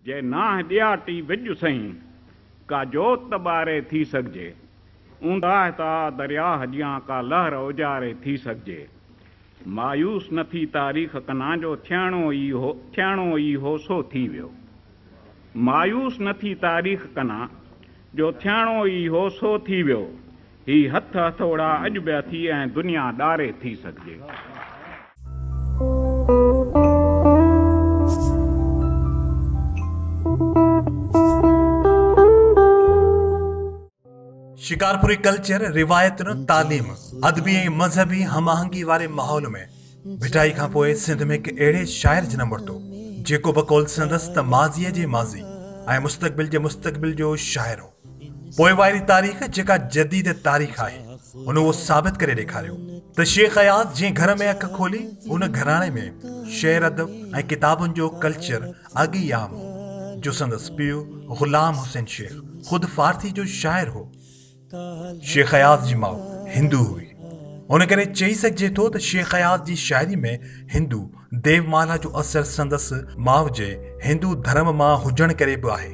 جي ناهه ڏياٽي وڄ سئين، ڪا جوت ٻاري ٿي سگهجي، اونداهه ته آ درياهه جيان ڪا لهر اوجاري ٿي سگهجي. مايوس نه ٿي تاريخ ڪنان جو ٿيڻو ئي هو، ٿيڻو ئي هو سو ٿي ويو. مايوس نه ٿي تاريخ ڪنان جو ٿيڻو ئي هو سو ٿي ويو. هي هٿ هٿوڙا اڄ به اٿي ۽ دنيا ڏاري ٿي سگهجي. شڪارپوري ڪلچر، روايتن، تعليم، ادبي ۽ مذهبي هم آهنگي واري ماحول ۾ ڀٽائي کان پوء سنڌ ۾ هڪ اهڙي شاعر جنم ورتو جيڪو بقول سندس ته ماضيء جي ماضي ۽ مستقبل جي مستقبل جو شاعر هو. پوئواري تاريخ جيڪا جديد تاريخ آهي هن اهو ثابت ڪري ڏيکاريو ته شيخ اياز جنهن گهر ۾ اک کولي ان گهراڻي ۾ شعر ادب ۽ ڪتابن جو ڪلچر اڳ ئي عام هو جو سندس پيء غلام حسين شيخ خود فارسي جو شاعر هو شيخ اياز جي ماء هندو هئي، ان ڪري چئي سگهجي ٿو ته شيخ اياز جي شاعري ۾ هندو ديو مالا جو اثر سندس ماء جي هندو ڌرم مان هجڻ ڪري به آهي.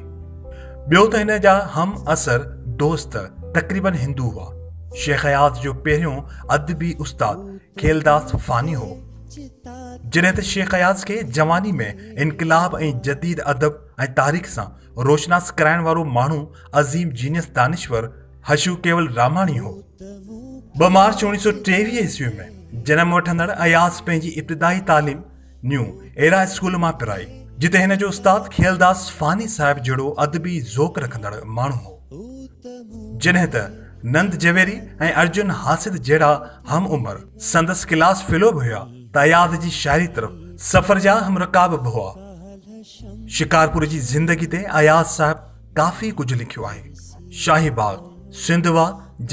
ٻيو ته هن جا هم عصر دوست تقريبن هندو هئا. شيخ اياز جو پهريون ادبي استاد کيلداس فاني هو. جڏهن ته شيخ اياز کي جواني ۾ انقلاب ۽ جديد ادب ۽ تاريخ سان روشناس ڪرائڻ وارو ماڻهو عظيم جينيس دانشور حشو ڪيول راماڻي هو ٻه مارچ اوڻيهه سو ٽيويهه عيسوي ۾ جنم وٺندڙ اياز پنهنجي ابتدائي تعليم نيو ايرا اسڪول مان پرائي جتي هن جو استاد کيلداس فاني صاحب جهڙو ادبي ذوق رکندڙ ماڻهو هو جڏهن ته نند جويري ۽ ارجن حاسد جهڙا هم عمر سندس ڪلاس فيلو به هيا ته اياز جي شاعري طرف سفر جا هم رڪاب به هئا شڪارپور جي زندگي تي اياز صاحب ڪافي ڪجهه لکيو آهي شاهي باغ سنڌ وا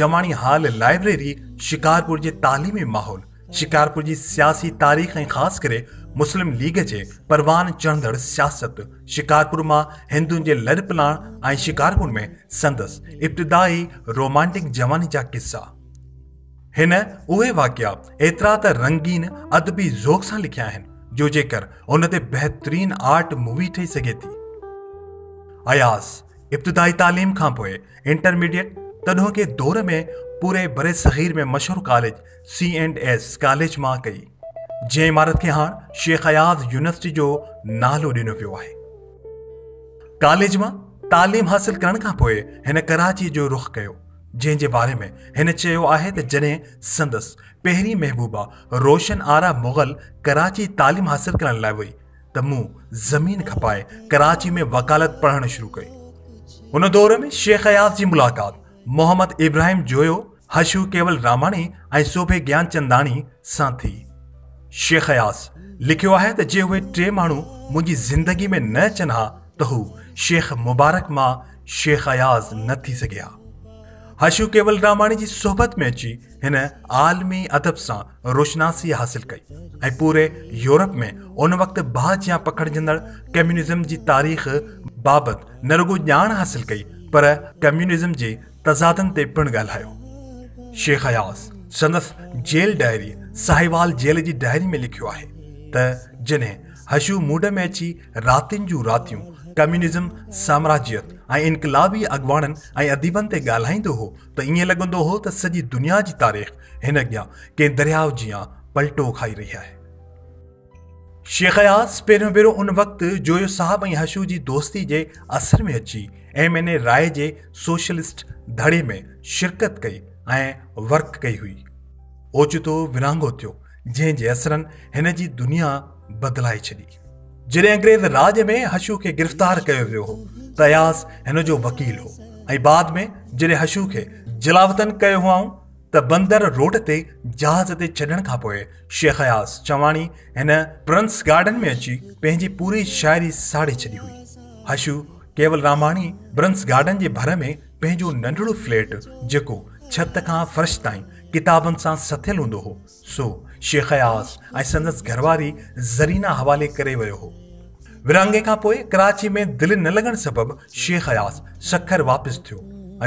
جماڻي هال لائبريري شڪارپور جي تعليمي ماحول شڪارپور جي سياسي تاريخ ۽ خاص ڪري مسلم ليگ جي پروان چڙهندڙ سياست شڪارپور مان هندن جي لڏپلاڻ ۽ شڪارپور ۾ سندس ابتدائي رومانٽڪ جواني جا قصا هن اهي واقعا ايترا ته رنگين ادبي ذوق سان لکيا آهن جو جيڪر ان تي بهترين آرٽ مووي ٺهي سگهي ٿي. اياز ابتدائي تعليم کان پوء انٽرميڊيٽ تڏهوڪي دور ۾ پوري برصغير ۾ مشهور college C and S college مان ڪئي جنهن عمارت کي هاڻ شيخ اياز يونيورسٽي جو نالو ڏنو ويو آهي ڪاليج مان تعليم حاصل ڪرڻ کان پوء هن ڪراچي جو رخ ڪيو جنهن جي باري ۾ هن چيو آهي ته جڏهن سندس پهرين محبوبه روشن آرا مغل ڪراچي تعليم حاصل ڪرڻ لاء وئي ته مون زمين کپائي ڪراچي ۾ وڪالت پڙهڻ شروع ڪئي ان دور ۾ شيخ اياز جي ملاقات محمد ابراهيم جويو حشو ڪيول راماڻي ۽ سوڀي گيان چنداڻي سان ٿي شيخ اياز لکيو آهي ته جي اهي ٽي ماڻهو منهنجي زندگي ۾ نه اچن ها ته هو شيخ مبارڪ مان شيخ اياز نه ٿي سگهي ها. حشو ڪيولراماڻي جي صحبت ۾ اچي هن عالمي ادب سان روشناسي حاصل ڪئي ۽ پوري يورپ ۾ ان وقت باهه جيان پکڙجندڙ ڪميونزم جي تاريخ بابت نه رڳو ڄاڻ حاصل ڪئي پر ڪميونزم جي تضادن تي پڻ ڳالهايو. شيخ اياز سندس جيل ڊائري ساهيوال جيل جي ڊائري ۾ لکيو آهي ته جنهن حشو موڊ ۾ اچي راتين جون راتيون ڪميونزم، سامراجيت ۽ انقلابي اڳواڻن ۽ اديبن تي ڳالهائيندو هو ته ائين لڳندو هو ته سڄي دنيا جي تاريخ هن اڳيان ڪنهن درياء جيان پلٽو کائي رهي آهي. شيخ اياز پهريون ڀيرو ان وقت جويو صاحب ۽ حشو جي دوستي جي اثر ۾ اچي ايم اين اي راء جي سوشلسٽ ڌڙي ۾ شرڪت ڪئي ۽ ورڪ ڪئي هئي. اوچتو ورهاڱو ٿيو، جنهن جي اثرن هن جي دنيا بدلائي ڇڏي. جڏهن انگريز راڄ ۾ حشو کي گرفتار ڪيو ويو هو ته اياز هن جو وڪيل هو ۽ بعد ۾ جڏهن حشو کي جلاوطن ڪيو هئائون ته بندر روڊ تي جهاز تي ڇڏڻ کان پوء شيخ اياز چواڻي هن پرنس گارڊن ۾ اچي پنهنجي پوري شاعري ساڙي ڇڏي هئي. حشو ڪيول راماڻي برنس گارڊن جي ڀر ۾ پنهنجو ننڍڙو فليٽ جيڪو ڇت کان فرش تائين ڪتابن سان سٿيل هوندو هو، سو شيخ اياز ۽ سندس گهرواري زرينه حوالي ڪري ويو هو. ورهاڱي کان پوء ڪراچي ۾ دل نه لڳڻ سبب شيخ اياز سکر واپس ٿيو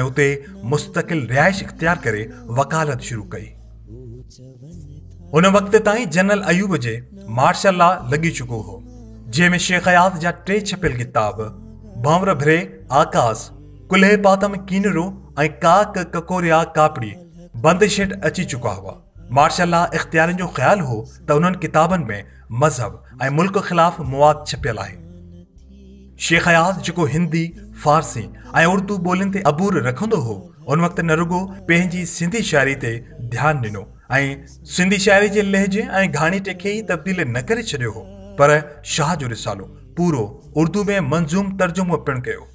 ۽ اتي مستقل رهائش اختيار ڪري وڪالت شروع ڪئي. ان وقت تائين جنرل ايوب جي مارشل لا لڳي چڪو هو، جنهن ۾ شيخ اياز جا ٽي ڇپيل ڪتاب ڀنور ڀري آڪاس، ڪلهي پاتم ڪينرو ۽ ڪاڪ ڪڪوريا ڪاپڙي، بند شيٽ اچي چڪا هئا. مارشل لا اختيارين جو خيال هو ته انهن ڪتابن ۾ مذهب ۽ ملڪ خلاف مواد ڇپيل آهي. شيخ اياز جيڪو هندي، فارسي ۽ اردو ٻولين تي عبور رکندو هو، ان وقت نه رڳو پنهنجي سنڌي شاعري تي ڌيان ڏنو ۽ سنڌي شاعري جي لهجي ۽ گهاڻيٽي کي ئي تبديل نه ڪري ڇڏيو هو، پر شاهه جو رسالو پورو اردو ۾ منظوم ترجمو پڻ ڪيو.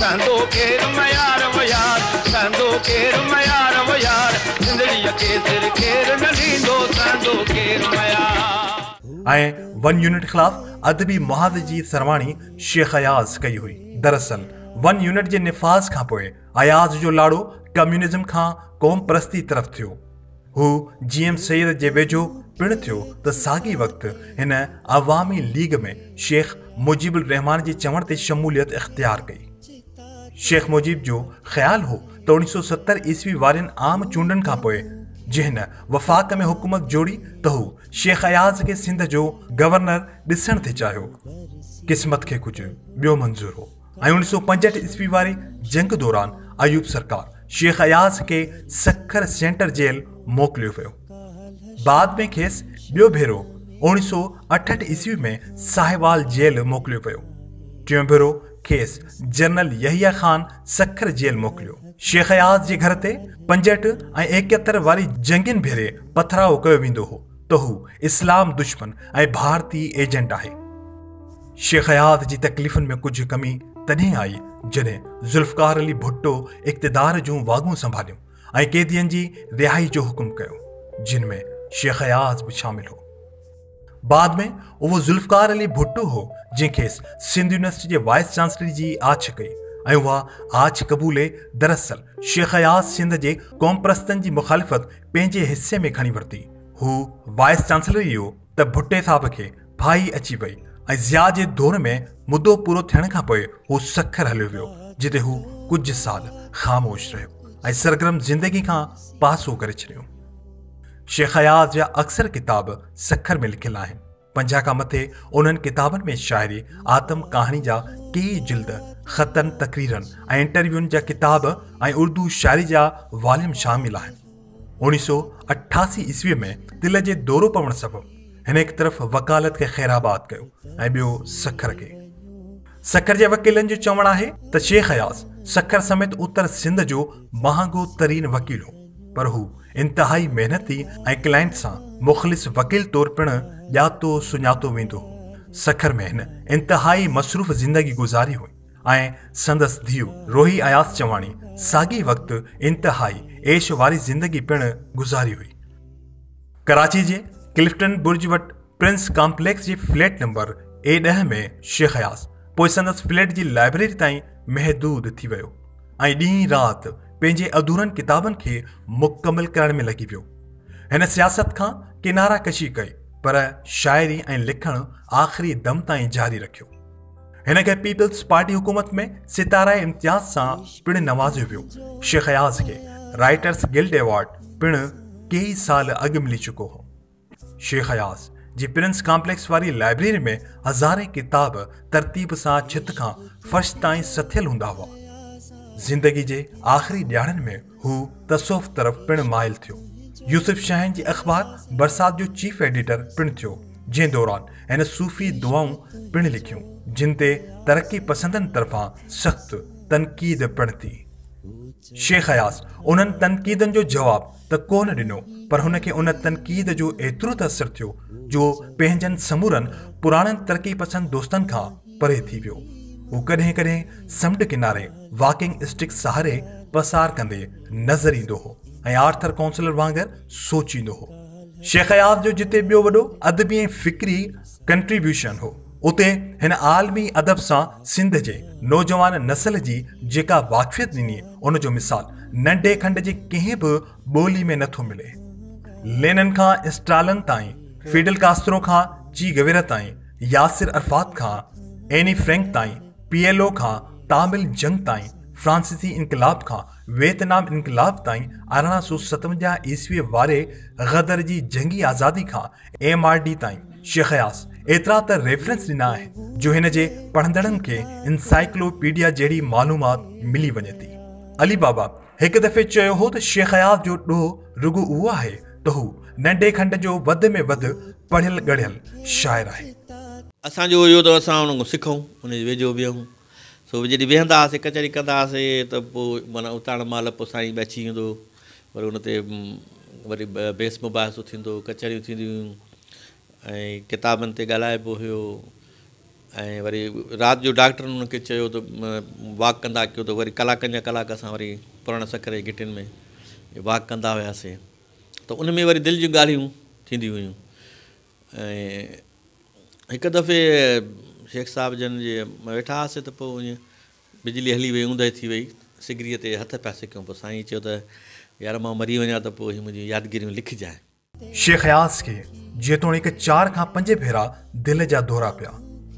سهندو ڪير ميار و يار سهندو ڪير ميار و يار زندڙيء کي سر ڪير نه ڏيندو سهندو ڪير ميار. ۽ ون يونٽ خلاف ادبي محاذ جي سرواڻي شيخ اياز ڪئي هئي. دراصل ون يونٽ جي نفاذ کانپوء اياز جو لاڙو ڪميونزم کان قومپرستي طرف ٿيو. هو جي ايم سيد جي ويجهو پڻ ٿيو ته ساڳئي وقت هن عوامي ليگ ۾ شيخ مجيب الرحمان جي چوڻ تي شموليت اختيار ڪئي. شيخ مجيب جو خيال هو ته اوڻيھ سؤ ستر عيسوي وارين عام چونڊن کان پوء جي هن وفاق ۾ حڪومت جوڙي ته هو شيخ اياز کي سنڌ جو گورنر ڏسڻ ٿي چاهيو. قسمت کي ڪجهه ٻيو منظور هو. ۽ اوڻيھ سؤ پنجهٺ عيسوي واري جنگ دوران ايوب سرڪار شيخ اياز کي سکر سينٽر جيل موڪليو ويو بعد ۾ کيس ٻيو ڀيرو اوڻيھ سؤ اٺهٺ عيسوي ۾ ساهيوال جيل موڪليو ويو ٽيون ڀيرو کيس جنرل يحيا خان سکر جيل موڪليو شيخ اياز جي گھر تي پنجهٺ ۽ ايڪهتر واري جنگين ڀيري پٿراء ڪيو ويندو هو ته هو اسلام دشمن ۽ ڀارتي ايجنٽ آهي شيخ حيات جي تڪليفن ۾ ڪجهه ڪمي تڏهن آئي جڏهن ذوالفقار علي ڀٽو اقتدار جون واڳون سنڀاليون ۽ قيدين جي رهائي جو حڪم ڪيو جن ۾ شيخ حيات به شامل هو بعد ۾ اهو ذوالفقار علي ڀٽو هو جنهن کيس سنڌ يونيورسٽي جي وائس چانسلري جي آڇ ڪئي ۽ اها آڇ قبولي دراصل شيخ حيات سنڌ جي قومپرستن جي مخالفت پنهنجي حصي ۾ کڻي ورتي هو وائس چانسلر ئي هو ته ڀٽي صاحب کي ڦاهي اچي وئي ۽ ضياء جي دور ۾ مدو پورو ٿيڻ کان پوء هو سکر هليو ويو جتي هو ڪجهه سال خاموش رهيو ۽ سرگرم زندگي کان پاسو ڪري ڇڏيو شيخ اياز جا اڪثر ڪتاب سکر ۾ لکيل آهن پنجاهه کان مٿي انهن ڪتابن ۾ شاعري آتم ڪهاڻي جا ڪي جلد خطن تقريرن ۽ انٽرويون جا ڪتاب ۽ اردو شاعري جا واليم شامل آهن اوڻيھ سؤ اٺاسي عيسويء ۾ دل جي دورو پوڻ سبب هن هڪ طرف وڪالت کي خيرآباد ڪيو ۽ ٻيو سکر کي. سکر جي وڪيلن جو چوڻ آهي ته شيخ اياز سکر سميت اتر سنڌ جو مهانگو ترين وڪيل هو پر هو انتهائي محنتي ۽ ڪلائنٽ سان مخلص وڪيل طور پڻ ڄاتو سڃاتو ويندو هو. سکر ۾ هن انتهائي مصروف زندگي گذاري هئي. ۽ سندس ڌيء روحي اياز چواڻي ساڳي وقت انتهائي عيش واري زندگي پڻ گذاري هئي. ڪراچي جي ڪلفٽن برج وٽ پرنس ڪامپليڪس جي فليٽ نمبر اي ڏهه ۾ شيخ اياز پوء سندس فليٽ جي لائبريري تائين محدود ٿي ويو ۽ ڏينهن رات پنهنجي اڌورن ڪتابن کي مڪمل ڪرڻ ۾ لڳي ويو. هن سياست کان ڪناره ڪشي ڪئي پر شاعري ۽ لکڻ آخري دم تائين جاري رکيو. هن کي پيپلز پارٽي حڪومت ۾ ستاري امتياز سان پڻ نوازيو ويو شيخ اياز کي رائٽرز گلڊ ايوارڊ پڻ ڪيئي سال اڳ ملي چڪو هو شيخ اياز جي پرنس ڪامپليڪس واري لائبريري ۾ هزارين کتاب ترتيب سان ڇت کان فرش تائين سٿيل هوندا هئا زندگي جي آخري ڏياڙن ۾ هو تصوف طرف پڻ مائل ٿيو. يوسف شاهين جي اخبار برسات جو چيف ايڊيٽر پڻ ٿيو، جنهن دوران هن صوفي دعائون پڻ لکيون، جن تي ترقي پسندن طرفان سخت تنقيد پڻ ٿي. شيخ اياز انهن تنقيدن جو جواب ته ڪونه ڏنو، پر هن کي ان تنقيد جو ايترو ته اثر ٿيو، جو پنهنجن سمورن پراڻن ترقي پسند دوستن کان، پري ٿي ويو. هو ڪڏهن ڪڏهن سمنڊ ڪناري واڪنگ اسٽڪ سهاري پسار ڪندي نظر ايندو هو ۽ آرٿر ڪونسلر وانگر سوچيندو هو. شيخ اياز جو جتي ٻيو وڏو ادبي ۽ فڪري ڪنٽريبيوشن هو، اتي هن عالمي ادب سان سنڌ جي نوجوان نسل جي جيڪا واقفيت ڏني، ان جو مثال ننڍي کنڊ جي ڪنهن به ٻولي ۾ نٿو ملي. لينن کان اسٽالن تائين، فيڊل ڪاسترو کان چي گويرا تائين، ياسر عرفات کان ايني فرينڪ تائين، پي ايل او کان تامل جنگ تائين، فرانسيسي انقلاب کان ويتنام انقلاب تائين، ارڙهن سو ستونجاهه عيسويء واري غدر جي جنگي آزادي کان ايم آر ڊي تائين، شيخ اياز ايترا ته ريفرنس ڏنا آهن جو هن جي پڙهندڙن کي انسائيڪلو پيڊيا جهڙي معلومات ملي وڃي ٿي. علي بابا هڪ دفعي چيو هو ته شيخ اياز جو ڏوهه رڳو اهو آهي ته هو ننڍي کنڊ جو وڌ ۾ وڌ پڙهيل ڳڙهيل شاعر آهي. اسان جو اهو ته اسان ان کان سکون، ان جي ويجهو ويهون. سو جڏهن ويهندا هئاسين، ڪچهري ڪندا هئاسين ته پوء معنيٰ اتاڻ مهل پوء سائين به اچي ويندو وري ان تي وري بحث مباحثو ٿيندو، ڪچهريون ٿينديون هيون ۽ ڪتابن تي ڳالهائبو هيو. ۽ وري رات جو ڊاڪٽرن انهن کي چيو ته واڪ ڪندا ڪيو ته وري ڪلاڪن جا ڪلاڪ اسان وري پراڻن سکر جي گهٽين ۾ واڪ ڪندا هياسين ته ان ۾ وري دل جون ڳالهيون ٿينديون هيون ۽ هڪ دفعي شيخ صاحب جن جي ويٺا هئاسين ته پوء ائين بجلي هلي وئي اوندهه ٿي وئي سگريء تي هٿ پيا سڪيون پوء سائين چيو ته يار مان مري وڃان ته پوء هي منهنجون يادگيريون لکجانء شيخ اياز کي جيتوڻيڪ چار کان پنج ڀيرا دل جا دورا پيا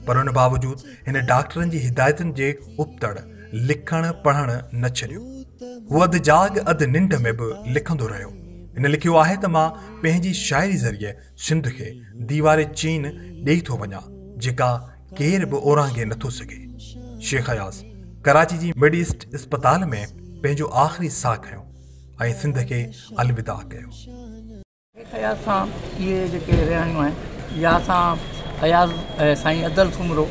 پر ان باوجود هن ڊاڪٽرن جي هدايتن جي ابتڙ لکڻ پڙهڻ نه ڇڏيو هو اڌ جاڳ اڌ ننڊ ۾ به لکندو رهيو هن لکيو آهي ته مان پنهنجي شاعري ذريعي سنڌ کي ديوار چين ڏيئي ٿو وڃان جيڪا ڪير به اورانگهي نٿو سگهي شيخ اياز ڪراچي جي مڊ ايسٽ اسپتال ۾ پنهنجو آخري ساهه کنيو ۽ سنڌ کي الوداع ڪيو. اياز سان اهي جيڪي رهاڻيون آهن يا سان اياز سائين ادل سومرو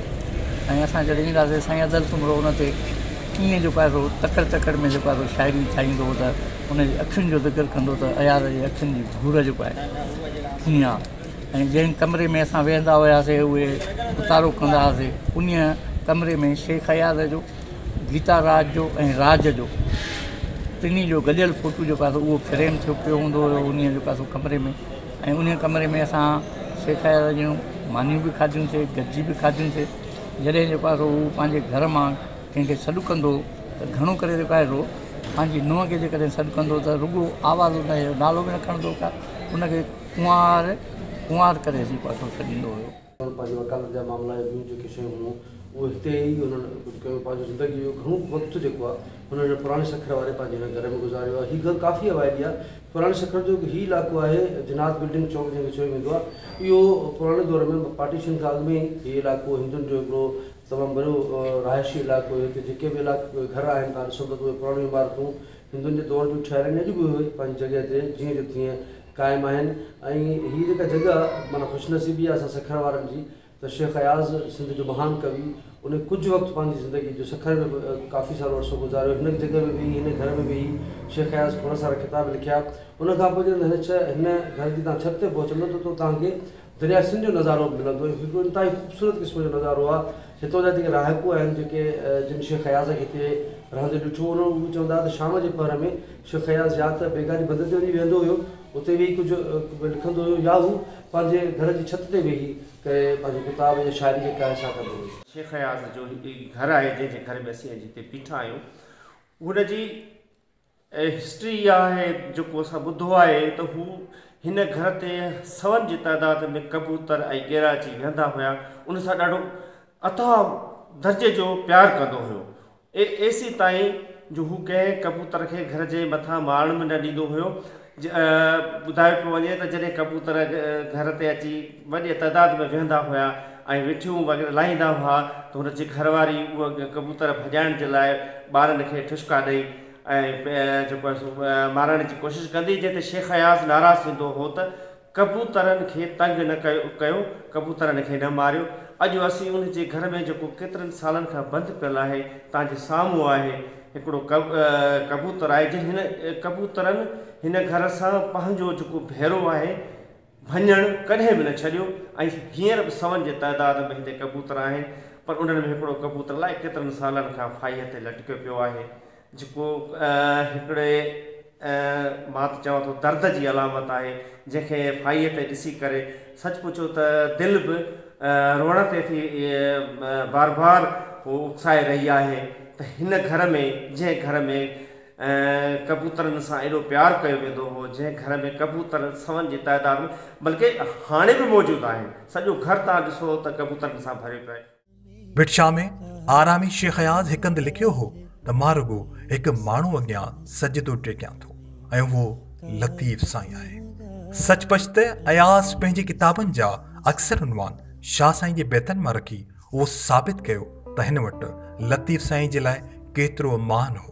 ۽ اسان جڏهن ايندا هئاسين سائين ادل سومرو ان تي ڪيئن جيڪو آهي سو تڪڙ تڪڙ ۾ جيڪو آهي سو شاعري ٺاهيندو هو ته ان جي اکين جو ذڪر ڪندو ته اياز جي اکين جي ڀور جيڪو آهي ائين آهي ۽ جنهن ڪمري ۾ اسان ويهندا هياسين اهي اتارو ڪندا هئاسين انهيء ڪمري ۾ شيخ اياز جو گيتا راج جو ۽ راج جو ٽنهي جو گڏيل فوٽو جيڪو آهي اهو فريم ٿيو پيو هوندو هيو انهي جيڪو آهي سو ڪمري ۾ ۽ انهي ڪمري ۾ اسان سيکائي جون مانيون به کاڌيون سي گڏجي به کاڌيون سي جڏهن جيڪو آهي سو هو پنهنجي گهر مان ڪنهن کي سڏ ڪندو هو ته گهڻو ڪري جيڪو آهي سو پنهنجي نونهن کي جيڪڏهن سڏ ڪندو هو ته رڳو آواز هن جو نالو به نه کڻندو هو ڪا انهي کي ڪنوار ڪنوار ڪري جيڪو آهي سو سڏيندو هيو انهن پنهنجي وڪالت جا معاملا يا ٻيون جيڪي شيون هيون، اهو هتي ئي انهن ڪجهه ڪيو. پنهنجو زندگيء جو گهڻو وقت جيڪو آهي، هن هن پراڻي سکر واري پنهنجي هن گهر ۾ گذاريو آهي. هي گهر ڪافي اوائلي آهي. پراڻي سکر جو هي علائقو آهي، جناح بلڊنگ چوڪ جنهن کي چيو ويندو آهي، اهو پراڻي دور ۾ پارٽيشن کان اڳ ۾ ئي هي علائقو هندن جو هڪڙو تمام وڏو رهائشي علائقو هيو. هتي جيڪي به گهر آهن، توهان ڏسندو ته اهي پراڻيون عمارتون هندن جي دور جون ٺهيل آهن يا اڄ به اهي پنهنجي جڳهه تي جيئن جو تيئن قائم آهن ۽ هي جيڪا جڳهه معنيٰ خوش نصيبي آهي اسان سکر وارن جي ته شيخ اياز سنڌ جو مهان ڪوي ان ڪجهه وقت پنهنجي زندگي جو سکر ۾ به ڪافي سارو عرصو گذاريو هن جڳهه ۾ ويهي هن گهر ۾ ويهي شيخ اياز کوڙ سارا ڪتاب لکيا ان کانپوء جڏهن هن ڇهه هن گهر جي تان ڇت تي پهچندو ته تو تان کي درياء سنڌ جو نظارو به ملندو هي هڪ انتهائي خوبصورت قسم جو نظارو آهي هتان جا جيڪي رهاڪو آهن جيڪي جن شيخ اياز کي هتي رهندي ڏٺو هو اهي چون ٿا ته شام جي پهر ۾ شيخ اياز يا ته بيگاهه جي بندر تي وڃي ويهندو هيو اتي ويهي ڪجهه لکندو هيو يا هو پنهنجي گهر جي ڇت تي ويهي ڪري پنهنجي ڪتاب يا شاعري جيڪا آهي سا ڪندو هيو. شيخ اياز جو هڪ گهر آهي جنهن جي گهر ۾ اسين اڄ هتي بيٺا آهيون هن جي هسٽري اها آهي جيڪو اسان ٻڌو آهي ته هو هن گهر تي سون جي تعداد ۾ ڪبوتر ۽ گيرا اچي ويهندا هيا ان سان ڏاڍو اتاهه درجي جو پيار ڪندو هيو اي ايسي تائين جو هو ڪنهن ڪبوتر کي گهر جي مٿان ماڻڻ به نه ڏيندو هيو ٻڌايو پيو وڃي ته جڏهن ڪبوتر گهر تي اچي وڏي تعداد ۾ ويهندا هيا ۽ وٺيون وغيره لاهيندا هئا ته هن جي گهر واري اهي ڪبوتر ڀڄائڻ جي لاء ٻارن کي ٺشڪا ڏئي ۽ جيڪو آهي سو مارڻ جي ڪوشش ڪندي جنهن تي شيخ اياز ناراض ٿيندو هو ته ڪبوترن کي تنگ نه ڪيو، ڪبوترن کي نه ماريو، اڄ اسين ان جي گهر ۾ جيڪو ڪيترن سالن کان بند پيل آهي، توهان جي سامهون آهي، هڪڙو ڪبوتر آهي، جنهن هن ڪبوترن هن گهر سان پنهنجو جيڪو ڀيرو آهي، ڀڃڻ، ڪڏهن به نه ڇڏيو ۽ هينئر به سون جي تعداد ۾ هتي ڪبوتر آهن، پر انهن ۾ هڪڙو ڪبوتر الائي ڪيترن سالن کان ڦاهيء تي لٽڪيو پيو آهي، جهڪو هڪڙي مان ته چوان ٿو درد جي علامت آهي، جنهن کي ڦاهيء تي ڏسي ڪري سچ پچو ته دل به روئڻ تي ٿي بار بار اڪسائي رهي آهي ته هن گهر ۾ جنهن گهر ۾ ڪبوترن سان ايڏو پيار ڪيو ويندو هو، جنهن گهر ۾ ڪبوتر سون جي تعداد ۾ بلڪه هاڻي به موجود آهن، سڄو گهر توهان ڏسو ته ڪبوترن سان ڀريو پيو آهي. بٽ شاهه ۾ آرامي شيخ اياز هڪ هنڌ لکيو هو ته مان رڳو هڪ ماڻهو اڳيان سجدو ٽيڪيان ٿو ۽ اهو لطيف سائين آهي سچ پچ ته اياز پنهنجي ڪتابن جا اڪثر عنوان شاهه سائين جي بيتن مان رکي اهو ثابت ڪيو ته هن وٽ لطيف سائين جي لاء ڪيترو مان هو